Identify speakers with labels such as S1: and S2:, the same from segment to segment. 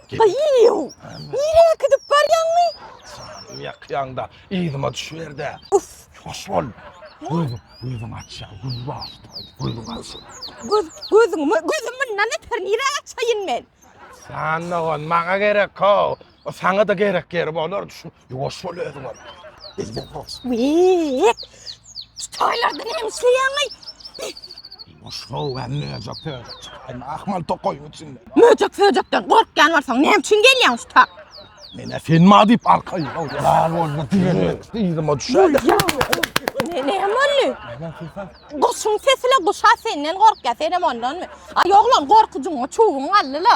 S1: Gaýyw! Nirä äkidip barýaňmy? Janym ýakýaňda,
S2: yzyma düşüber-de. Uf! Ýuwaş
S1: bol!
S2: Gözüň, gözüň açýa, göz başda aýt, gözüň aç. Göz, gözüňmi?
S1: Gözüm mundan öter nirä açaýyn men? Jan dogan,
S2: maňa gerek-ow. Saňa-da gerek ýeri bolardy şu. Ýuwaş bol özüňem. Elden ýuwaş. Wek!
S1: Şu toýlarda näme işleýäňeý?
S2: Ýuwaş how hem möjek pöjek çykaýma ahmal tokaýyň içinde. Möjek pöjekden
S1: gorkýan bolsaň näme üçin gelýäň şu tak? Menä sen
S2: ma diýip arkaýyn. Ýalan bolma diýene yzyma düşäýdim. Ne
S1: ne boldy? Guşuň sesile guşa senden gorkýa, senem ondanmy? Ay oglan gorkujyňa çuwuň galdy la.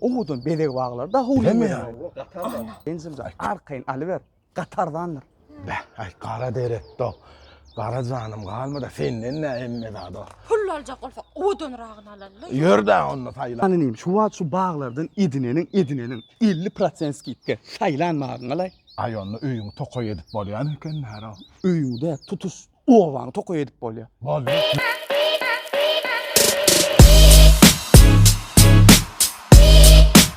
S3: Owadan bezeg baglary da howly Näme ýa?
S2: Enjemjan,
S3: arkaýyn alyber, gaty arzandyr. Beh, aý,
S2: gara derekde, gara janym galma-da, senden nä hemme zada. Pul aljak bolsak,
S1: owadanragyny alaly. Ýör-dä onda saýlap.
S2: Hany inim, şu wagt şu
S3: baglardan edineniň, edineniň, elli prosent skidka, saýlan maryňy alaý. Aý, onda öýüňi
S2: tokaý edip bolýan eken,
S3: Märo. Öýüňde
S2: tutuş Obany
S3: tokaý
S2: edip bolýar.
S3: Bolýar.